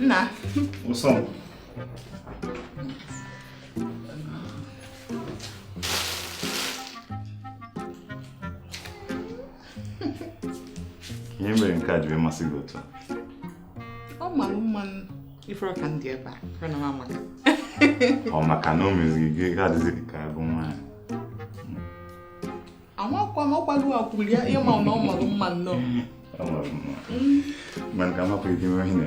Nna. What's up? Ihe mere nke a ji wee masị gị otu ọ mara mma ị fụrọ ka ndị ebe a ọ na mama gị ọ maka na o meziri gị adịzi ka agụ nwaanyị amakwa m ọkwalu akwụli ya ịma na ọ mara mma nnọọ mana ka amapụ ike ihe na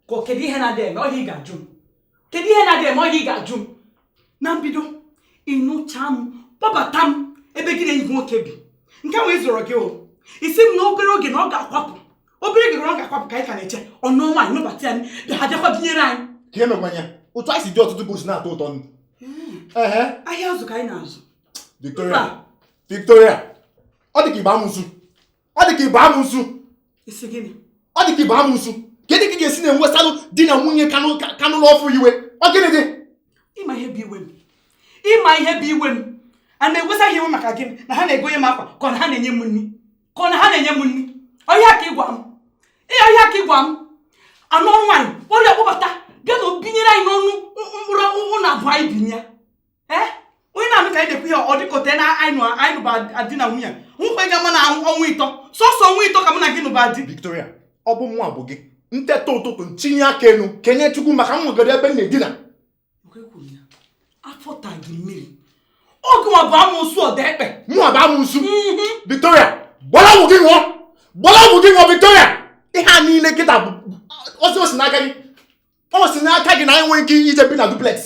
ka ọ kedu ihe na-adị eme ọ ihe a ị ga-ajụ m kedu ihe na-adị eme ọ ihe a ị ga-ajụ m na mbido ị nụcha m kpọbata m ebe gị na enyi gị nwoke bi nke nwe ịzụrụ gị o ị sị m na obere oge na ọ ga-akwapụ obere oge na ọ ga-akwapụ ka anyị ka na-eche ọ nụọ nwaanyị nụbata ya bịa ha bịakwa binyere anyị ka emekwanya otu anyị si dị ọtụtụ bụzi na-atọ ụtọ nụ ehe ahịa azụ ka anyị na-azụ Victoria Victoria ọ dị ka ị bụ amụsụ ọ dị ka ị bụ amụsụ ọ dị ka ị bụ amụsụ kedụ ka ị ga-esi na-ewesalụ di na nwunye ka nụ n'ọfụụ iwe ọ gịnị dị ịma ihe bụ iwe m ịma ihe bụ iwe m a na-ewesa iwe maka gịnị na ha na-egonye m akwa ka ọ na ha na-enye m nri ka ọ na ha na-enye m nri ọ ihe a ka ị gwa m ọ ihe a ka ị gwa m a nụọ nwaanyị kpọrọ ya kpọbata bịa na o binyere anyị n'ọnụ mkpụrụ ụlọ abụọ anyị binye ee onye na-anụ ka anyị na-ekwu ihe ọ dị ka o teena anyị nụba di na nwunye nwụkwa ga ma na ọnwa ịtọ sọsọ ọnwa ịtọ ka mụ na gị nụba di Victoria ọ bụ mụ bụ gị m teta ụtụtụ m tinye aka enu kenye chukwu maka m nwegoro ebe m na-edina afọ taa gị mmiri ọ gịnwa bụ amụsụ ọda ekpe mụ bụ amụsụ mhm. Victoria gbara ọgwụ gị ṅụọ gbara ọgwụ gị ṅụọ Victoria ihe a niile kịta bụzi o si n'aka gị o si n'aka gị na anyị enwerọ ike ije bi na duplex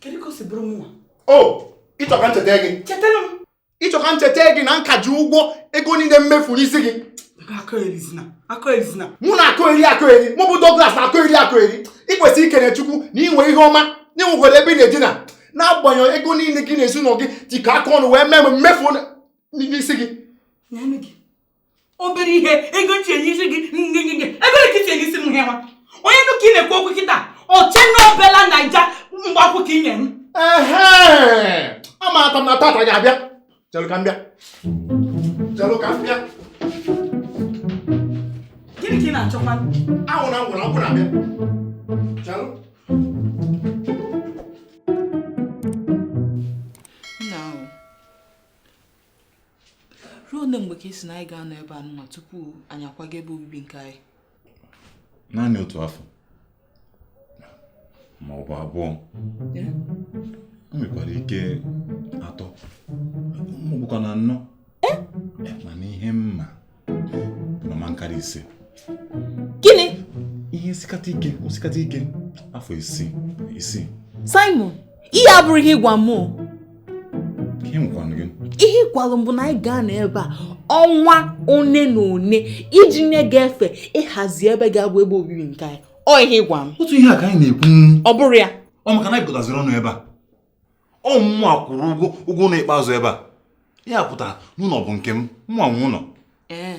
kedu ka o si bụrụ mụnwa o ị chọ ka m cheta gị chetara m ị chọ ka m cheta gị na m ka ji ụgwọ ego niile m mefu n'isi gị mụ na-akọeri akọeri mụ bụ Douglas na-akọeri akọeri ị kwesịrị ikene Chukwu na i nwe ihe ọma na i nwekwara ebe ị na-edina n'agbanyeghị ego niile gị na ezinụlọ gị ji ka aka ọnụ wee mee m mefu n'isi gị obere ihe ego m tinye isi gị ngịngịngị ego ole ka i tinye isi m ihe nwa onye nụ ka ị na-ekwu okwu kịta o chee n'obela naira mgbe akwụ ka ị nye m ehe amata m na tata ga-abịa chelụ ka m bịa chelụ ka m bịa gịnị ka ị na-achọkwa anwụ na ngwụrụ akwụ na-abịa chelụ ruo ole mgbe ka ị sị na anyị ga-anọ ebe a nwa tupu anyị akwaga ebe obibi nke anyị naanị otu afọ ma ọ bụ abụọ o nwekwara ike atọ ma ọ bụkwa na anọ mana ihe m ma na ọ ma akarị ise gịnị ihe o sikata ike o sikata ike afọ isii isii Simon ihe a abụrọ ihe ị gwa m ihe nwekwanụ gị ihe ị gwalụ m bụ na anyị ga-anọ ebe a ọnwa one na one iji nye gị efe ịhazi ebe ga-abụ ebe obibi nke anyị ọ ihe ị gwa m otu ihe a ka anyị na-ekwu ọ bụrụ ya ọ maka na anyị gotaziri ọnụ ebe a ọ mụnwa kwụrụ ụgwọ ụgwọ ụnọ ikpeazụ ebe a ya pụtara na ụnọ bụ nke m mụnwa nwe ụnọ ee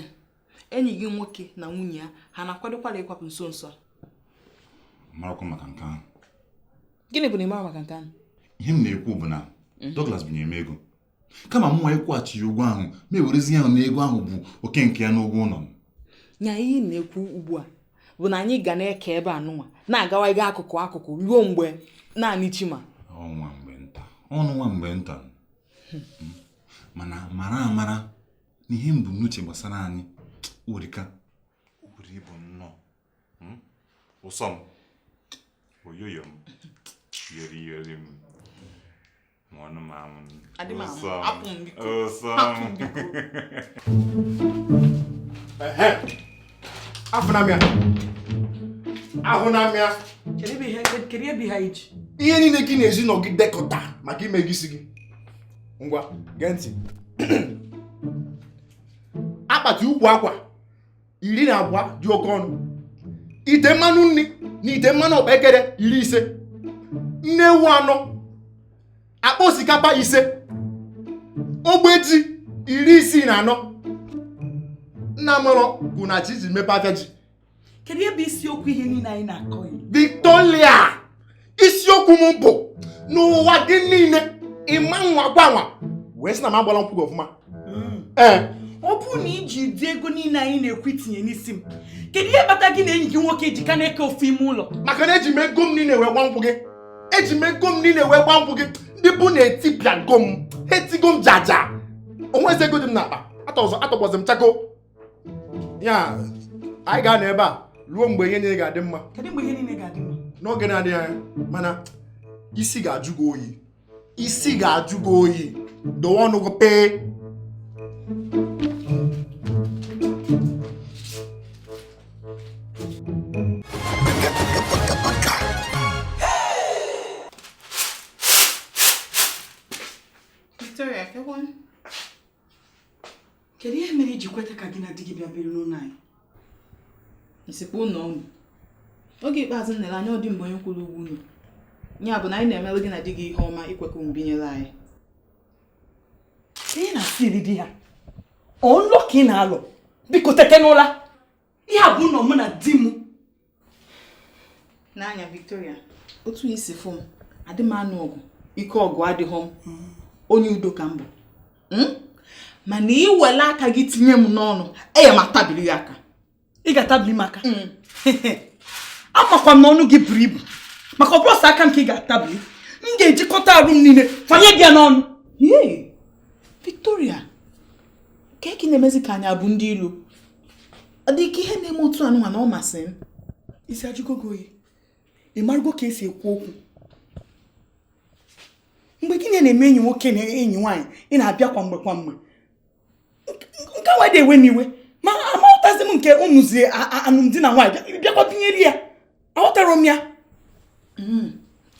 enyi gị nwoke na nwunye ya ha na-akwadokwara ịkwapụ nso nso a marakwa maka nke ahụ gịnị bụ na ị mara maka nke ahụ ihe m na-ekwu bụ na hmm. Douglas binyere m ego kama mụnwa ịkwụghachi ya ụgwọ ahụ m ewerezie ya na ego ahụ bụ oke nke ya n'ụgwọ ụnọ m nya ihe ị na-ekwu ugbu a bụ na anyị ga na-eke ebe a nụnwa na-agawa ịga akụkụ akụkụ ruo mgbe naanị chi ma ọ nwa mgbe nta ọnụ nwa mgbe nta hmm. mana mara amara na ihe m bu n'uche gbasara anyị o rika o buru ibu nnọọ hmm? ụsọ m oyoyo m yeri yeri m Ma ọnụ m anwụ m. Adị m anwụ. Ụsọ m. Hapụ m biko. Ụsọ m. Hapụ m biko. Ehe. Afụna m ya. Ahụna m ya. Kedu ebe ihe kedu ebe ihe anyị ji? Ihe niile gị na ezinụnọ gị dekọta maka ime ego isi gị. Ngwa, gee ntị. Akpati ukwu akwa iri na abụọ dị oke ọnụ ite mmanụ nni na ite mmanụ ọkpekere iri ise nne ewu anọ akpa osikapa ise ogbe ji iri isii na anọ nna amarọ ka unu chọ iji mepe afịa ji kedu ebe isiokwu ihe niile anyị na-akọ Victoria isiokwu m bụ n'ụwa gị niile ịma nwa gwanwa wee sị na m agbala nkwụ gị ọfụma hmm. ee eh. ọ bụrụ na iji ụdị ego niile anyị na-ekwu itinye n'isi m kedu ihe kpata gị na enyi gị nwoke ji ka na-eke ofu ime ụlọ maka na eji m ego m niile wee gba nkwụ gị eji m ego m niile wee gba nkwụ gị ndị be unu etipịago m etigo m jaja o nwezi ego dị m n'akpa atọgbọzi m chakoo ya anyị ga-anọ ebe a ruo mgbe ihe niile ga-adị mma n'oge na-adịghị anya mana isi ga-ajụ gị oyi isi ga-ajụ gị oyi dowe ọnụ gị pee kedu ihe mere i ji kweta ka gị na di gị bịa biri n'ụlọ anyị ị sịkwa ụlọ unu oge ikpeazụ m nere anya ọ di m bụ onye kwụrụ ụgwọ ụnọ ya bụ na anyị na-emelụ gị na di gị ihe ọma ikwe ka unu binyere anyị ihe na-asịrị di ya ọ nlọ ka ị na-alọ biko tete n'ụla ihe a bụ ụlọ mụ na di m nee anya Victoria otu i si fụ m adị m anụ ọgụ ike ọgụ adịghị m mm. onye udo ka m bụ hmm? mana i wele aka gị tinye m n'ọnụ eya m atabiri gị aka ị ga-atabiri m aka hmm. amakwa m na ọnụ gị buru ibu maka ọ bụrọ sọ aka m ka ị ga-atabiri m ga-ejikọta arụ m niile fanye gị n'ọnụ Victoria kee ka ị na-emezi ka anyị bụ ndị ilo ọ dị ka ihe na-eme otu anụnwa na ọ masị m isi ajụgo gị oyi ị marụgo ka e si ekwu okwu mgbe gị na-eme enyi nwoke na enyi nwaanyị ị na-abịa kwa mgbe kwa mgbe nke nwa adị ewe m iwe ma aghọtazi m nke ị nụzi alụmdi na nwaanyị bịakwa binyere ya aghọtarọ m ya hmm.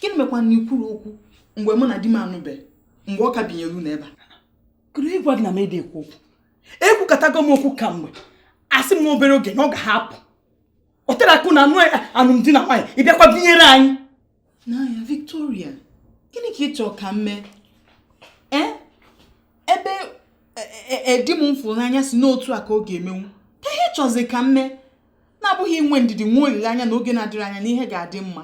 gịnị mekwa na i kwurọ okwu mgbe mụ na di m anụbeghị mgbe ọ ka binyere unu ebe a kedu onye gwa gị na m adị ekwu okwu ekwukatago m okwu kamgbe asị m obere oge na ọ ga-ahapụ o terọ aka unu anụ alụmdi na nwaanyị ị bịakwa binyere anyị nee anya Victoria gịnị ka ị chọọ ka m mee e, ebe di m m fụrụ n'anya sị na otu a ka ọ ga-emenwu kee ihe ị chọzi ka m mee na-abụghị inwe ndidi nwe olileanya na oge na-adịrọ anya na ihe ga-adị mma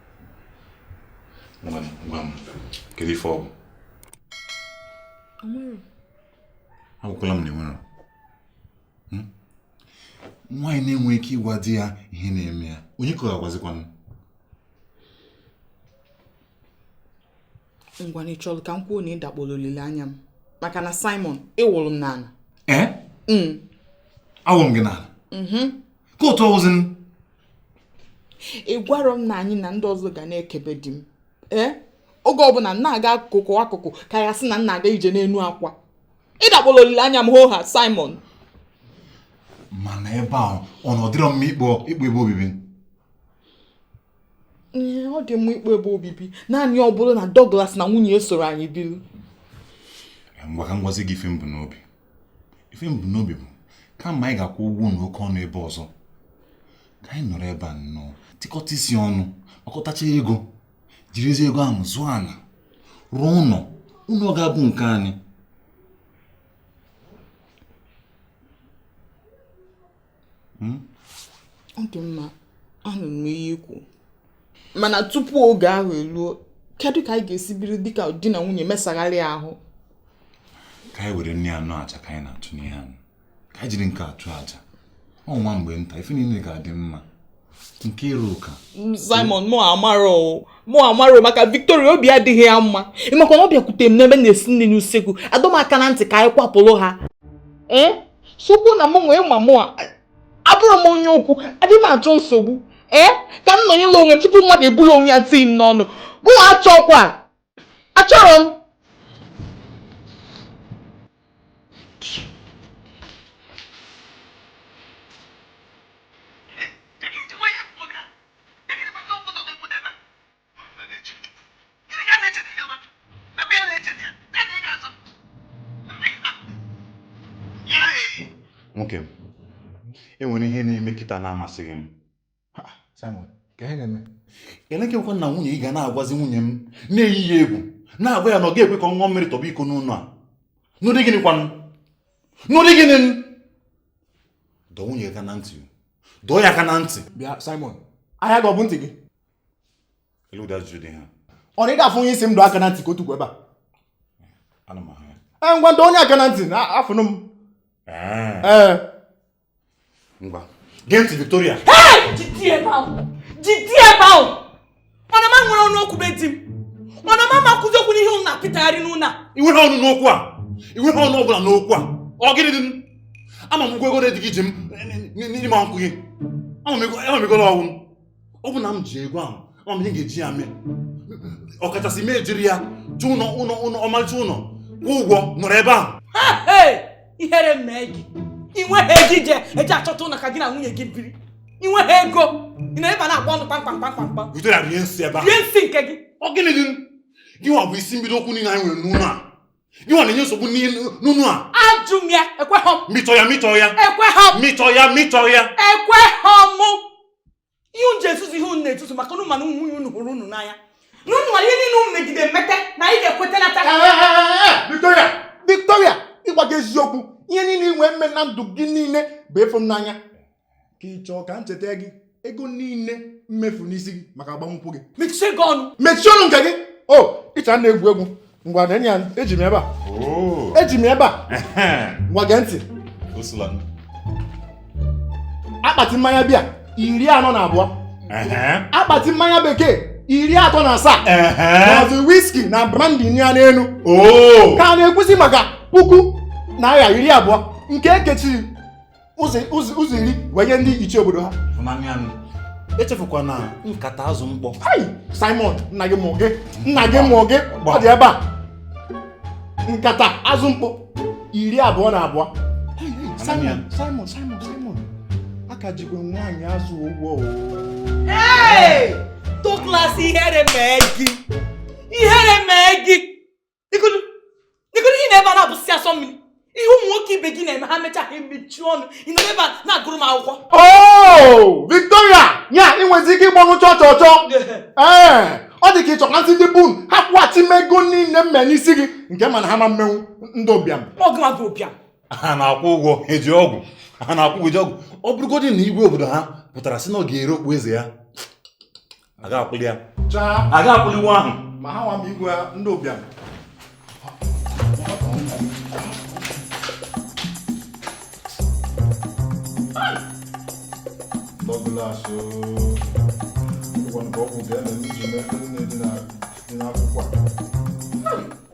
nwa m nwa m kedu ife ọ bụ agwakwala m na o nwerọ hmm? nwaanyị na-enwe ike ịgwa di ya ihe na-eme ya onye ka ọ ga-agwazikwanụ ngwanụ ị chọrọ ka m kwuo na ị dakpọrọ olileanya m maka na Simon ị wụrụ m n'ala ee eh? hmm. awụrụ m gị n'ala mm-hmm. ka otu ọ wụzi ị gwarọ m na anyị na ndị ọzọ ga na-eke be di m ee oge ọbụla m na-aga akụkụ akụkụ ka ya sị na m na-aga ije n'enu akwa ị dakpọla olileanya m hoo ha Simon mana ebe a ọ na ọ dịrọ mma ịkpọ ịkpọ ebe obibi ọ dị mma ịkpọ ebe obibi naanị ọ bụrụ na Douglas na nwunye ya esoro anyị biri ngwa ka m gwazi gị ife m bu n'obi ife m bu n'obi bụ kama anyị ga-akwụ ụgwọ ụnọ oke ọnụ ebe ọzọ ka anyị nọrọ ebe a nnọọ tikọta isi ọnụ akọtacha ego jirizie ego ahụ zụọ ana rụọ ụnọ ụnọ ga-abụ nke anyị hmm? ọ dị mma anụ m ihe i kwu mana tupu oge ahụ eluo kedu ka anyị ga-esi biri dịka di na nwunye mesagharị ahụ ka anyị were ya na ọ bụ aja ka anyị na-achụ n'ihi anyị ka anyị jiri nke a chụọ aja ọ nwa mgbe nta ife niile ga-adị mma Nkiruka Simon mụ amarọ mụ amarọ maka Victoria obi adịghị ya mma ị makwa na ọ bịakwute m n'ebe m na-esi nri n'usekwu adọ m aka na ntị ka anyị kwapụrụ ha ee eh? sokwu na mụ onwe m mụwa abụrọ m onye okwu adịghị m achọ nsogbu ee eh? ka m nọnyela onwe tupu mmadụ eburu onwe ya tii m n'ọnụ mụ achọkwa achọrọ m nwoke m e nwere ihe na-eme kịta na-amasịghị m Simon kee ihe na-eme lekekwa na nwunye gị ga na-agwazi nwunye m na-eyi ya egwu na-agwa ya na ọ ga-ekwe ka ọ ṅụọ mmiri tọgbọ iko n'ụlọ a n'ụdị gịnị kwanụ n'ụdị gịnị dọọ nwunye gị aka na ntị dọọ ya aka na ntị bịa Simon ahịa gị ọ bụ ntị gị elu ụda ajụjụ dị ha ọ na ị ga-afụ onye ị sị m dọọ aka na ntị ka o tukwu ebe a ana m ahụ ya ee ngwanụ dọọ ya aka na ntị na afụnụ m ee ngwa gee ntị Victoria jide ebe ahụ jide ebe ahụ ọ na mụ enwerọ ọnụ okwu be di m ọ na mụ ama kwuzi okwu n'ihe ụnụ na-apịtagharị n'ụlọ a i nweghị ọnụ n'okwu a i nweghị ọnụ ọbụla n'okwu a ọ gịnị dị m ama m ụgwọ ego one di gị ji m n'ime nkwụ gị ama m ego na ọnwụ m ọ bụ na m ji ego ahụ ama m ihe m ga-eji ya mee ọkachasị m ejiri ya chọọ ụlọ ụlọ ụlọ ọmarịcha ụlọ kwụọ ụgwọ nọrọ ebe ahụ ihere mee gị i nweghị ego i je-eji achọta ụlọ ka gị na nwunye gị biri i nweghị ego ị nọ ebe a na-agba ọnụ kpamkpam kpamkpam kpam Victoria rie nsị ebe ahụ rie nsị nke gị ọ gịnị dị gị nwa bụ isi mbido okwu niile anyị nwere n'ụlọ a gị nwa na-enye nsogbu n'ụnọ a ajụ m ya ekweghọ m mịchọ ya mịchọ ya ekweghọ m mịchọ ya mịchọ ya ekweghọ m ihe unu ji ezuzu ihe unu na-ezuzu maka unu ma na nwunye unu hụrụ unu n'anya na unu nwere ihe niile unu megide mmete na anyị ga-ekweta nata Victoria Victoria ịgwa gị eziokwu ihe niile i nwe mee na ndụ gị niile bụ ịfụ m n'anya ka ị chọọ ka m cheta gị ego niile m mefu n'isi gị maka agbamnkwụ gị mechie gị ọnụ mechie ọnụ nke gị o i che na egwu egwu ngwa neenụ ya eji m ebe a oh. eji m ebe a ngwa gee ntị akpati mmanya bịa iri anọ na abụọ akpati mmanya bekee iri atọ na asaa ma ọ bụ wiski na brandi ya n'elu oh. ka a na-ekwuzi maka puku naira iri abụọ nke e kechiri ụzọ iri wee nye ndị ichie obodo ha echefukwana nkata azụ mkpọ Simon nna gị mụọ gị nna gị mụọ gị ọ dị ebe a nkata azụ mkpọ iri abụọ na abụọ Simon Simon Simon Simon a ka jikwa nwaanyị azụ ụgwọ Douglas ihere mee gị ihere mee gị Nekwanụ, nekwanụ, ị nọ ebe a na-abụsị asọ mmiri. Ihe ụmụ nwoke ibe gị na-eme ha mechaa ha emechi ọnụ. Ị nọ n'ebe a na-agụrụ m akwụkwọ. Oh, Victoria, ya ị nwezi ike ịgba ọnụ chọọ chọọ chọọ. Ee, ọ dị ka ị chọ ka m sị ndị be unu ha kwụghachi m ego niile m mee n'isi gị nke m ma na ha ma mmenwu ndị ụbịam. Ọ gị nwa bụ ụbịam. ha na-akwụ ụgwọ eji ọgwụ ha na-akwụ ụgwọ eji ọgwụ ọ bụrụgodị na igwe obodo ha pụtara sị na ọ ga-ere okpu eze ya a ga-akwụlị ya a ga-akwụlị ụgwọ ahụ ma ha nwa m igwe ndị ụbịam Douglas ụgwọ nke ọgwụ ga-eme n'iji mee ndị na-edina akwụkwọ a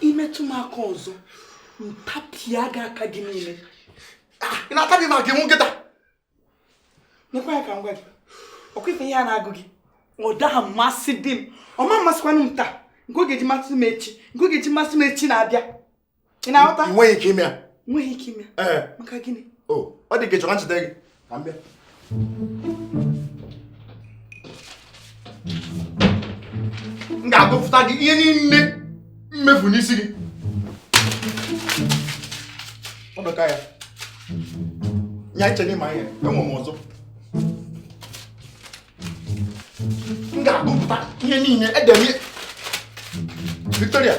i metụ m aka ọzọ m tapịa gị aka gị niile ah, ị na-atabi m aka i wụ nkịta nekwa ya ka m gwa gị ọ kwa ife ihe a na-agụ gị ọ daha amasịdi m ọ ma mmasịkwanụ m taa nke ọ ga-eji masị m echi nke ọ ga-eji masị m echi na-abịa ị na-aghọta ị nweghị ike ime ya nweghị ike ime ya maka gịnị ọ dị ka ị chọrọ m cheta gị ka m bịa m ga-agụpụta gị ihe niile m mefu n'isi gị ọ dọka ya nya i che na ị ma ihe enwe m ọzọ m ga-agụpụta ihe niile edem ihe Victoria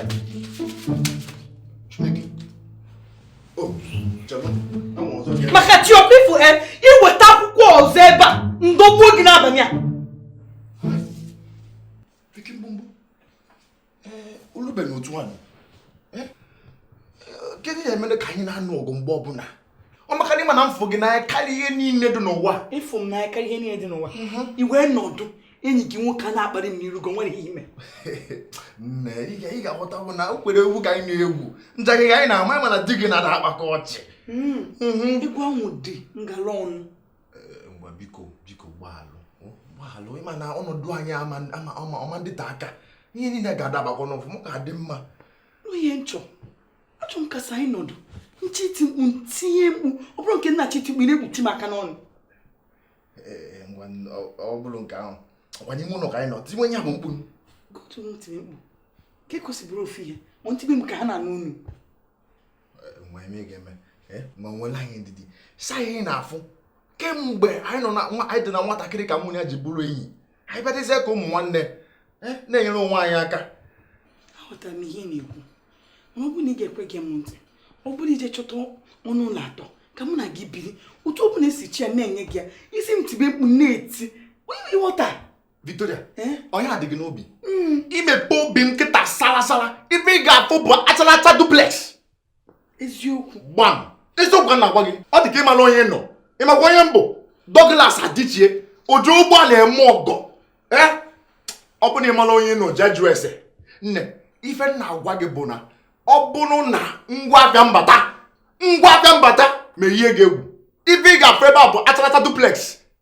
maka tiọpifu e iweta akwụkwọ ọzọ ebe a ndọgbuo gị n'abalị a olube na otu nwanyị kedu ihe mere ka anyị na-anụ ọgụ mgbe ọbụla ọ maka na ịma na mfụ gị n'anya karịa ihe niile dị n'ụwa ịfụ m n'anya karịa ihe niile dị n'ụwa mhm. ị wee nọdụ enyi gị nwoke a na-akparị m n'iru gị o nwere ihe i mere nne ị ga-aghọta bụ na egwuregwu ka anyị na-egwu njakịrị ka anyị na-ama mana di gị na-ada akpakwa ọchị hmm. mhm. egwu ahụ dị ngala ọnụ eh, ngwa biko biko gbaalụ gbaalụ ịma na ọnọdụ anyị ọ ma adịte aka ihe niile ga-adabakwa n'ọfụma ga-adị mma ihe m chọ achọ m ka sọ anyị nọdụ m chọọ iti mkpu m tie mkpu ọ bụrọ nke m na-achọ iti mkpu ị na-ekpuchi m aka n'ọnụ ọ bụrụ nke ahụ ọkwa n'ime ụlọ ka anyị nọ tiwe ya bụ mkpu gotu m tiri mkpu ka ekwesịbụrụ ofu ihe ma m tibe ka ha na-anụ unu nwa eme ga-eme ma nwelụ anyị ndidi sị anyị na-afụ kemgbe anyị nọ na anyị dị na nwatakịrị ka mụ ya ji bụrụ enyi anyị bịadịzie ka ụmụ nwanne eh, na-enyere onwe anyị aka aghọtara m ihe ị na-ekwu ma ọ bụrụ na ị ga-ekwe gee m ntị ọ bụrụ ị jee chọta ọnụ ụlọ atọ ka mụ na gị biri otu ọ bụla i si chọ ya m na-enye gị ya ị sị m tibe mkpu m na-eti onye ịghọta Victoria eh? ọ nya dị gị n'obi hmm. imepe obi m kịta sara sara ife ị ga-afụ bụ achara acha duplex eziokwu gbam eziokwu ka m na-agwa gị ọ dị ka ịmarọ onye nọ ịmakwa onye m bụ Douglas Adichie oji ụgbọala eme ọgọ ee ọ bụrụ na ịmarọ onye nọ jee jụọ ese nne ife m na-agwa gị bụ na ọ bụrụ na ngwa afịa m bata ngwa afịa m bata ma ihe ga-egwu ife ị ga-afụ ebe a bụ achara acha duplex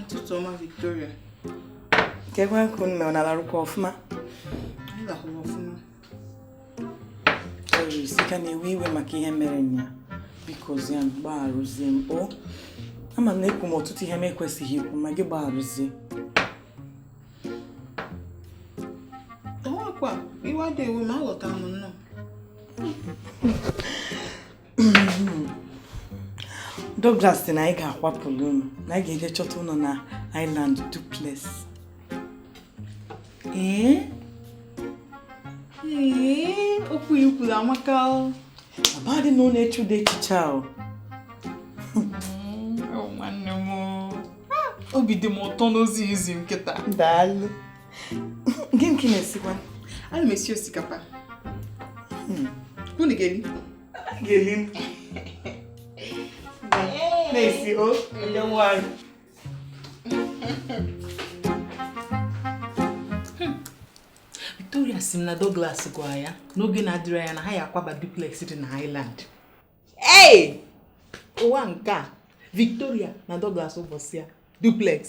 Ụtụtụ ọma Victoria. Kee kwanụ nne unu alarụkwa ọfụma. Anyị lakwara ọfụma. Doris ị ka na-ewe iwe maka ihe mere nnyaa. Bikozie m gbagharụzie m o. Ama m na ekwuru m ọtụtụ ihe m ekwesịghị ikwu ma gị gbagharụzie. Ọnwakwa iwe adịghị ewe m aghọtara m nnọọ. Douglas sị na anyị ga-akwapụrụ unu na anyị ga-eje chọta ụlọ na Island duplex ee ee okwu ikwuru amaka abadị na unu eche ụdị echiche ahụ nwanne m obi dị m ụtọ n'ozi izi m kịta daalụ gịnị ka ị na-esikwa ana m esi osikapa hmm. unu ga-eli ga-eli na-esi o ele nwaanyị Victoria sị m na Douglas gwa ya n'oge na-adịrọ anya na ha ya-akwaba duplex dị na Island ei ụwa nke a Victoria na Douglas ụbọchị ya duplex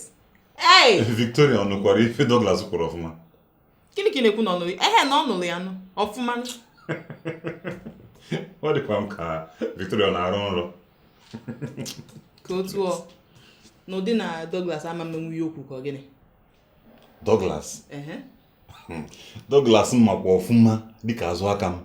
ei Victoria ọ nụkwara ife Douglas kwuru ọfụma gịnị ka ị na-ekwu na ọ nụrụ ehe na ọ nụrụ ya nụ ọfụma ọ dịkwa m ka Victoria na-arọ nrọ ka otu ọ n'ụdị na Douglas ama emenwu ya okwu ka gịnị Douglas hmm. Douglas m makwa ọfụma dịka azụ aka m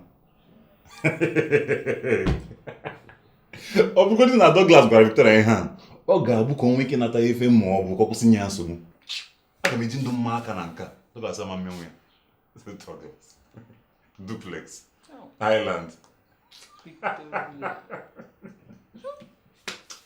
ọ bụgodị na Douglas gwara Victoria ihe a ọ ga-abụ ka o nwee ike nata efe ma ọ bụ ka ọ kwụsị inye ya nsogbu aga m eji ndụ m maa aka na nke a Douglas ama emenwu ya duplex Island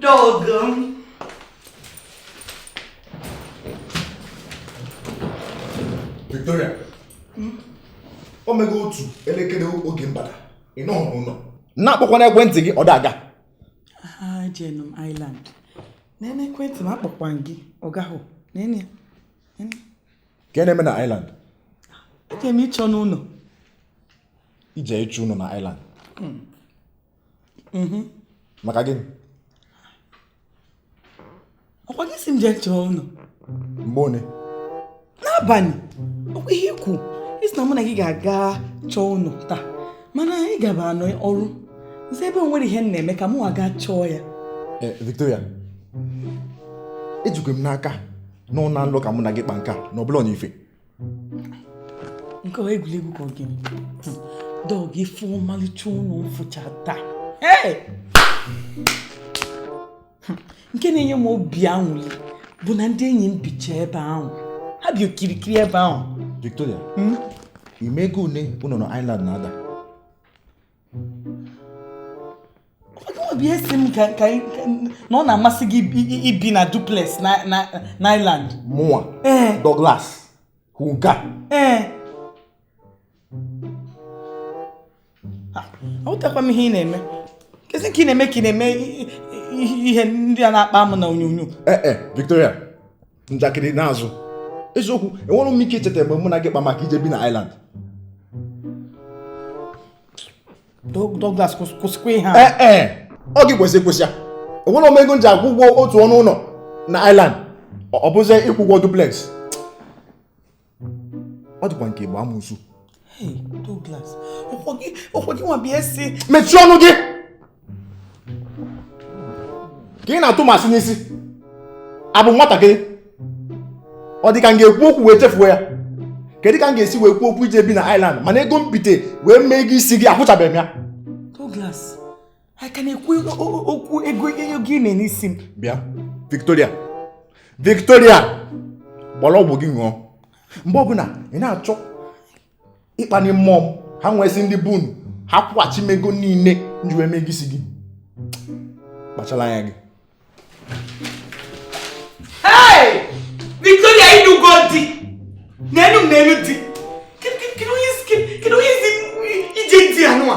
Doug m. Victoria. Hmm? O mego otu elekere oge m bata. Ị nọghị n'ụlọ. Na-akpọkwa n'ekwentị gị ọ da aga. Ejenụ m Island. Nene ekwentị m akpọkwa gị ọ gahụ. Nene ya. Ka ị na-eme na Island? Eje m ịchọnụ ụlọ. I je ịchọ ụlọ na Island. Hmm. mhm. maka gịnị ọ kwa gị sị m jee chọọ ụlọ mgbe one n'abalị ọ kwa ihe i kwu ị sị na mụ na gị ga-aga chọọ ụlọ taa mana ị gabanụ ọrụ m sị ebe o nwerọ ihe m na-eme ka mụwa gaa chọọ ya eh, Victoria ejikwa m n'aka na ọ na nlọ ka mụ na gị kpa nke a na ọ bụrọ na ife nke ọ egwuregwu ka ọ gịnị Doug ị fụ ọmalịcha ụlọ m fụcha taa nke na-enye m obi anwụli bụ na ndị enyi m bicha ebe ahụ ha bi okirikiri ebe ahụ Victoria hmm? ị ma ego one ụnọ na Island na-ada ọ bụ ị sị m ka ka na ọ na-amasị gị ibi na duplex na na na Island mụnwa ee Douglas hụ nke a ee ahụtakwa m ihe ị na-eme kezi nke ị na-eme ka ị na-eme ihe ndị a na-akpa amụ na onyonyo ee e, Victoria njakịrị n'azụ eziokwu enwerọ m ike icheta mgbe mụ na gị kpa maka ije bi na Island Douglas kwụsịkwa ihe a ee ọ gị kwesị ịkwụsị ya enwerọ m ego m ji akwụ ụgwọ otu ọnụ ụlọ na Island ọ bụzi ịkwụ ụgwọ duplex ọ dịkwa nke bụ amụsu mechie ọnụ gị ka ị na-atụ m asị n'isi abụ m nwatakịrị ọ dị ka m ga-ekwu okwu wee chefuo ya kedu ka m ga-esi wee kwuo okwu ije bi na Ireland mana ego m bite wee mee ego isi gị akwụchabeghị m ya ị ka na-ekwu okwu ego ego ị nye n'isi m bịa Victoria Victoria gbara ọgwụ gị ṅụọ mgbe ọbụla ị na-achọ ịkpani mmụọ m ha nwesị ndị be unu ha kwụghachi m ego niile m ji wee mee ego isi gị kpachala anya gị Victoria ị nụgo di na enu m na enu di kedu onye isi ije di anwa